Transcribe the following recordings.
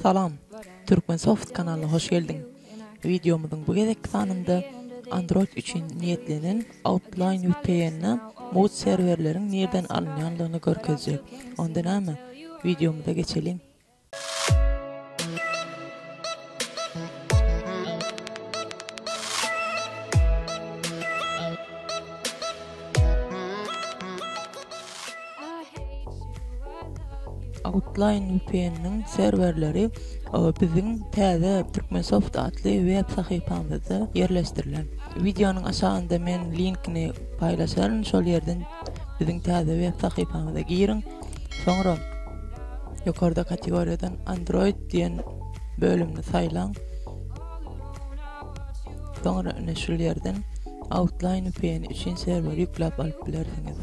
Salam! Turkmensoft kanalyna hoş geldiň! Wideomyzyň bu gezekki sanynda Android üçin niýetlenen Outline vpn-a mugt serwerleriň nirden alynýanlygyny görkezjek. Onda näme, wideomyza geçeliň! Outline VPN-niň serwerleri biziň täze Turkmensoft atly web sahypamyzda ýerleşdirilen. Wideonyň aşagynda men linkini paýlaşaryn, şol ýerden biziň täze web sahypamyza giriň. Soňra ýokarda kategoriýadan Android diýen bölümini saýlaň. Soňra ine şul ýerden Outline VPN üçin serwer ýükläp alyp bilersiňiz.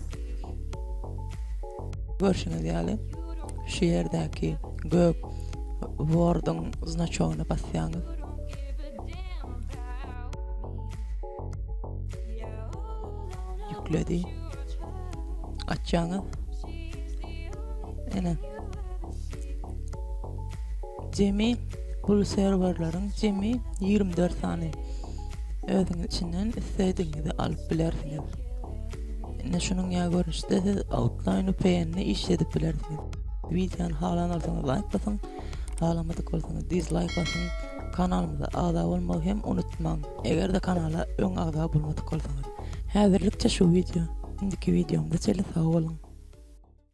Görşüňiz ýaly şu ýerdäki gök Word-yň znaçogyna basýaňyz. Ýükledi. Açýaňyz. Ene. Jemi bul serwerleriň jemi ýigrimi dört sany. Özüňiz içinden islediginizi alyp bilersiňiz. Indi şunuň ýa görnüşde siz Outline VPN-de iş edip bilersiňiz. Wideony halan bolsaňyz laýk basyň, halamadyk bolsaňyz dizlaýk basyň. Kanalymyza agza bolmagy hem unutmaň. Eger-de kanala öň agza bolmadyk bolsaňyz. Häzirlikçe şu wideo. Indiki wideomyzda çenli sag boluň.